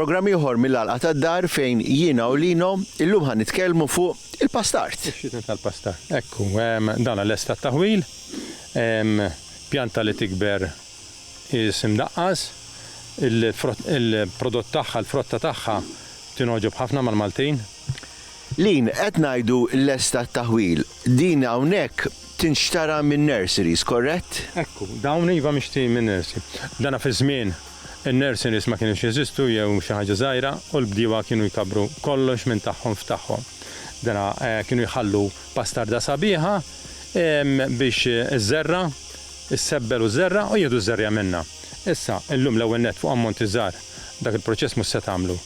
Programm ieħor mill-għalqa tad-dar fejn jiena u Lino illum ħan nitkellmu fuq il-pastart. Xitna tal-pastart. Ekku, dan l-estat taħwil, pjanta li tikber is-Simdaqqas. Il-frott, il-prodott tagħha, il-frotta tagħha tingħoġob ħafna mal-Maltin. Lin, qed ngħidu lesta t-taħwil, din hawnhekk tinxtara minn nurseries, korrett? Ekku, dawn iva mixtri minn nursery. Dana fiż-żmien in-nurseries ma kinux jeżistu jew xi ħaġa żgħira u l-bdiewa kienu jkabbru kollox minn tagħhom f'tagħhom. Dana kienu jħallu bastarda sabiħa biex iżżerra' Issebbel u żerra' u jieħdu ż-żerriegħa minnha. Issa, illum l-ewwel nett fuq ammonti żgħar, dak il-proċess mhux se tagħmlu.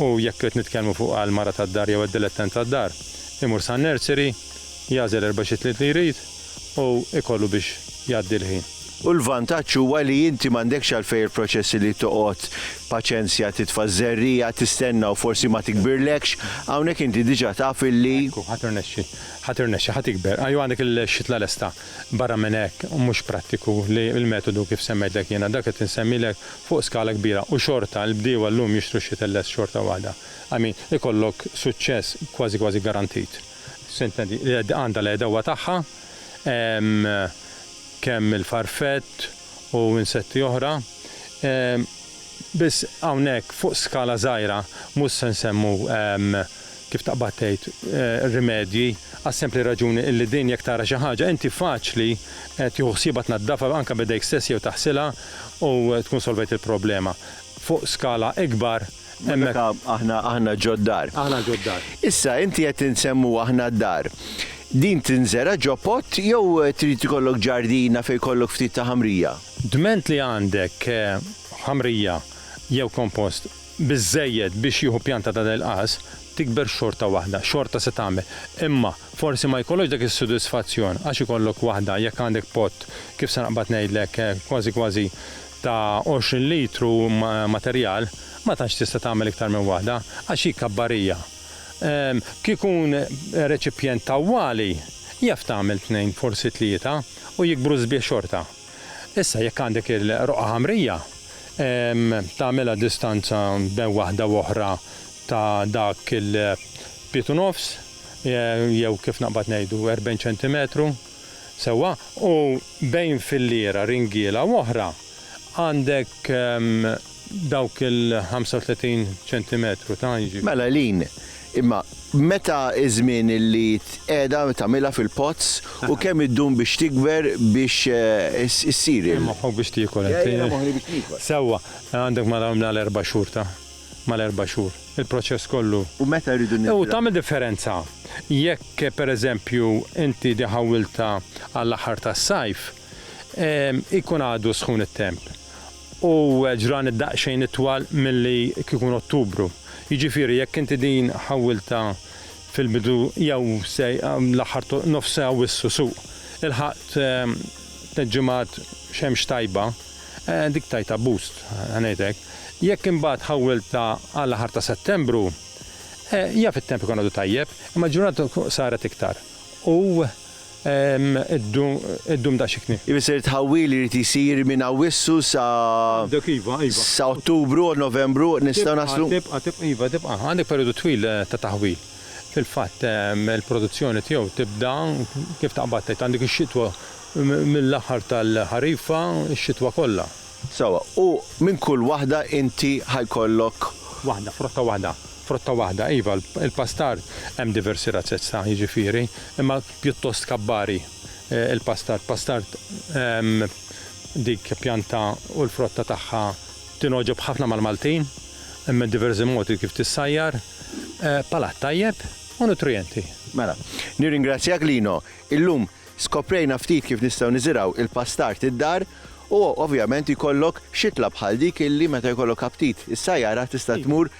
U jekk qed nitkellmu fuq għall-mara tad-dar jew għad-dilettant tad-dar, imur san-nursery, jagħżel erba' xitliet li jrid u jkollu biex jgħaddi l-ħin. U l-vantaġġ huwa li inti m'għandekx għalfejn il-proċessi li toqgħod paċenzja titfa' ż-żerriegħa, tistenna u forsi ma tikbirlekx, hawnhekk inti diġà taf illi. Ekku, ħa tirnexxi, ħa tirnexxi, ħa tikber. Ajwa għandek il-xitla lesta. Barra minn hekk, mhux prattiku li l-metodu kif semmejtlek jiena, dak qed insemmilek fuq skala kbira u xorta l-bdiewa llum jixtru x-xitellez xorta waħda. I mean, ikollok suċċess kważi kważi garantit. Sententi, l-għedda għandha l-għedewwa tagħha, hemm kemm il-farfett u insetti oħra. Biss hawnhekk fuq skala żgħira mhux se nsemmu kif taqbad tgħid, rimedji, għas-sempli raġuni illi din jekk tara xi ħaġa inti faċli tieħu ħsiebha tnaddafha anke b'idejk stess jew taħsilha u tkun solvejt il-problema. Fuq skala ikbar hemmhekk. Ma meta aħna, aħna ġod-dar. Aħna ġod-dar. Issa, inti qed insemmu aħna d-dar. Din tinżera' ġo pott jew trid ikollok ġardina fejn jkollok ftit ta' ħamrija? Dment li għandek ħamrija jew kompost biżżejjed biex jieħu pjanta ta' dell-qas, tikber xorta waħda, xorta se tagħmel. Imma forsi ma jkollokx dak is-sodisfazzjon għax ikollok waħda, jekk għandek pott, kif se naqbad ngħidlek, kważi kważi ta' 20 litru materjal, ma tantx tista' tagħmel iktar minn waħda, għax hi kabbarija. Kieku jkun reċipjent tawwali, jaf tagħmel tnejn, forsi tlieta, u jikbru sbieħ xorta. Issa jekk għandek il-roqgħa ħamrija, tagħmilha distanza bejn waħda u oħra ta' dak il-pied u nofs, jew kif naqbad ngħidu, 40 ċentimetru, sewwa, u bejn filliera, ringiela u oħra, għandek dawk il-35 ċentimetru ta' jiġifieri. Mela Lin, imma meta iż-żmien li tqiegħda tagħmilha fil-pots u kemm iddum biex tikber biex issir il-. Moħħok biex tiekol int. Jiena moħħni biex niekol. Sewwa, għandek mal-erba' xhur ta', mal-erba' xhur. Il-proċess kollu. U meta rridu nibdew. U tagħmel differenza jekk pereżempju inti di ħawwiltha għall-aħħar tas-sajf, ikun għadu sħun it-temp. u ġrani daqsxejn itwal milli kieku Ottubru. Jiġifieri jekk inti din ħawwiltha fil-bidu jew se l-aħħar ta' nofs sa' Awwissu suq, ilħaqt tliet ġimgħat xemx tajba, dik tajtha boost, ħa ngħid hekk. Jekk imbagħad ħawwiltha għall-aħħar ta' Settembru, jaf it-temp ikun għadu tajjeb, imma l-ġurnata saret iktar u iddum daqsxikn. Ifisser it-tħawwil li jrid isir minn Awwissu sa. Għandek iva, iva. Sa Ottubru, Novembru nistgħu naslu. Tibqa', tibqa', iva tibqa'. Għandek perijodu twil ta' taħwil. Fil-fatt il-produzzjoni tiegħu tibda kif taqbad tgħid għandek ix-xitwa mill-aħħar tal-ħarifa, ix-xitwa kollha. Sewwa, u minn kull waħda inti ħa jkollok. Waħda, frotta waħda. Frotta waħda, iva, il-pastar hemm diversi razzezza, jiġifieri, imma pjuttost kabbari il-pastar. Pastar dik pjanta u l-frotta tagħha tingħoġob ħafna mal-Maltin, hemm diversi modi kif tissajjar, palat tajjeb u nutrijenti. Mela, nirringrazzjak Lino. Illum skoprejna ftit kif nistgħu niżirgħu il-pastar id-dar u ovvjament jkollok xitla bħal dik illi meta jkollok aptit issajjarha tista' tmur